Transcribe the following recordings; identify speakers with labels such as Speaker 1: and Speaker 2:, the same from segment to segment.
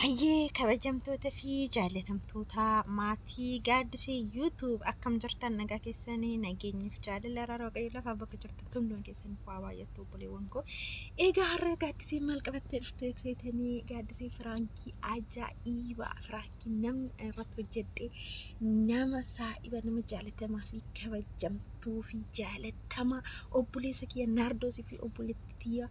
Speaker 1: Hayyee kabajamtoota fi jaallatamtoota maatii gaaddisee YouTube akkam jirtan nagaa keessanii nageenyiif jaalala rara waaqayyo lafaa bakka jirtan hunduma keessan waa baay'attu obboleewwan koo. Egaa har'a gaaddisee maal qabattee dhuftee seetanii gaaddisee firaankii ajaa'ibaa firaankii namni irratti hojjedhe nama saa'iba nama jaalatamaa fi kabajamtuu fi jaalatamaa obboleessa kiyya naardoosii fi obboleetti tiyyaa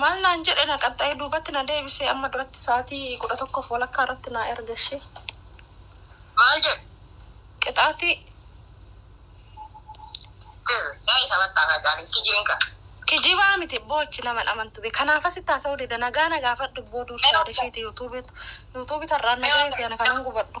Speaker 1: Maal naan jedhe na qaxxa'ee duubatti na deebise amma duratti sa'aatii kudha tokkoof walakkaa irratti naa erga ishee.
Speaker 2: Maal jedhe?
Speaker 1: Qixaatii. Yaa
Speaker 2: isa battaa kaacaalee kijibiin qaba. Kijibaa miti
Speaker 1: abboo achi naman amantu be kanaaf asitti haasa'uu dida nagaa na gaafadhu abboo duursa yaada isheeti yuutuubiitu yuutuubiitu har'aan na gaheeti ani kanan gubadhu.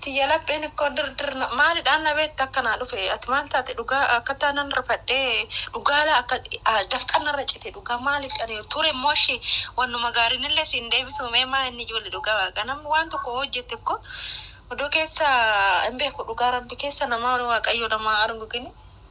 Speaker 2: tiyya lapheen
Speaker 1: ikkoo dir dir na maalidhaan na beekta akka naa dhufe ati maal taate dhugaa akkataa nan rifadhee dhugaa laa akka dafqan narra cite dhugaa maaliif ani ture immoo ishi wannuma gaarinillee siin deebisuu mee maa inni ijoollee dhugaa waaqa namni waan tokko hojjette ikko odoo keessa hin beeku dhugaa rabbi keessa namaa waaqayyoo namaa arguu gini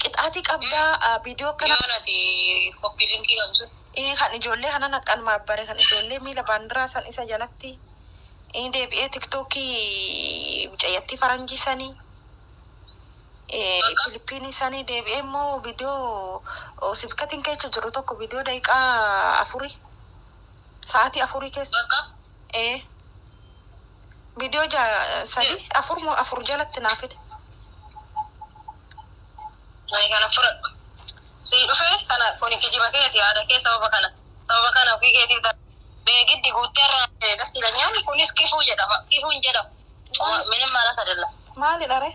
Speaker 1: Qixaati qabdaa ah, viidiyoo akkana Yoon ati
Speaker 2: koppii linkii qabu sun. Ii, kan ijoollee kana
Speaker 1: naqqalmaaf bare kan ijoollee miila baandiraa san isa jalatti ii, deebi'ee tiktookii mucayyattii faranjii sanii ee, Bakka. Filipiinii sanii deebi'ee immoo viidiyoo oo, sibkatiin keessa jiru tokko viidiyoo daqiiqaa afurii sa'aatii afurii keessa Bakka. ee Viidiyoo ja sadi afur moo afur jalatti naa fide.
Speaker 2: Ani kana fudhadhu. Sii dhufe kana kuni kijiba keeti yaada kee sababa kana sababa kana ofii keetiif da beegiddi guuttee irraa ee das ilanyaan kunis kifuu jedhama kifuu hin jedhamu. Cuma minim maalat adella. Maalidha ree?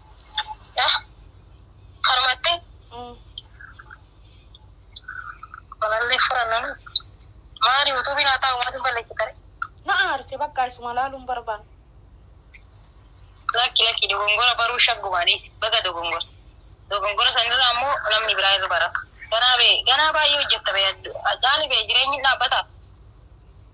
Speaker 2: Harmatti balallee furannan maali yuutuubiin haa taa'u maaliin balleessitare? Na aarse
Speaker 1: bakka isuma laaluun barbaan.
Speaker 2: Lakki lakki dogongora
Speaker 1: baruu
Speaker 2: shaggumaanii baga dogongora. Dogongora sanirraa ammoo namni biraa irra barata. Ganaa bee ganaa baay'ee hojjetta bee Hacaalu bee jireenyi hin dhaabbata.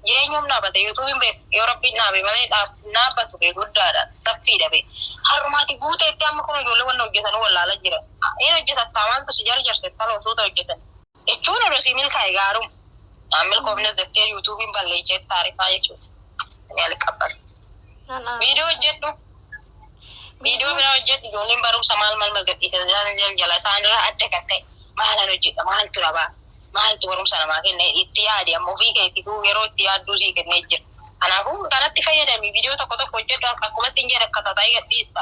Speaker 2: jireenyuum dhaabate yuutuubiin bee yoo rabbiin dhaabe malee dhaabbatu bee guddaadha saffiidha bee harrumaati guuteetti amma kun ijoollee wanna hojjetanuu wallaala jira in hojjetattaa maaltu si jarjarse taloo suuta hojjetan jechuun odoo sii milkaa'e gaaruma milkoofnes jettee yuutuubiin balleeycheetti taarifaa jechuudha ni alqabban Viidiyoo hojjedhu. Viidiyoo biraa hojjedhu ijoolleen barumsa maal maal mal gadhiisa jala isaanirraa adda kan ta'e maalan hojjedha maaltu na baasa maaltu barumsa namaa kenna itti yaadi amma ofii keetiifuu yeroo itti yaadduu sii kennee jira. Kanaafuu kanatti fayyadami viidiyoo tokko tokko hojjedhu akkuma siin jedhe akka tataa'ee gadhiista.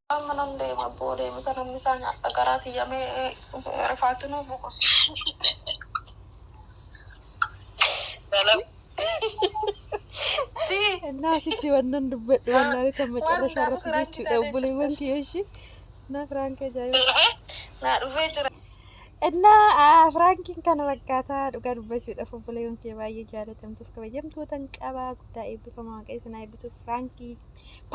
Speaker 1: Amma nan deema abboo deemita namni isaa nyaadha garaa kiyya mee rifaatu nuu boqosi. Innaa asitti wannan dubbadhu wallaalee tan macarrasha irratti jechuudha obboleewwan kiyya ishii naa firaanka ajaa'iba. Naa dhufee jira. Innaa aa, firaankiin kana fakkaataa dhugaa dubbachuudhaaf obboleewwan kiyya baay'ee jaalatamtuuf kabajamtootan qabaa guddaa eebbifamaa waaqayyo isin haa eebbisuuf firaankii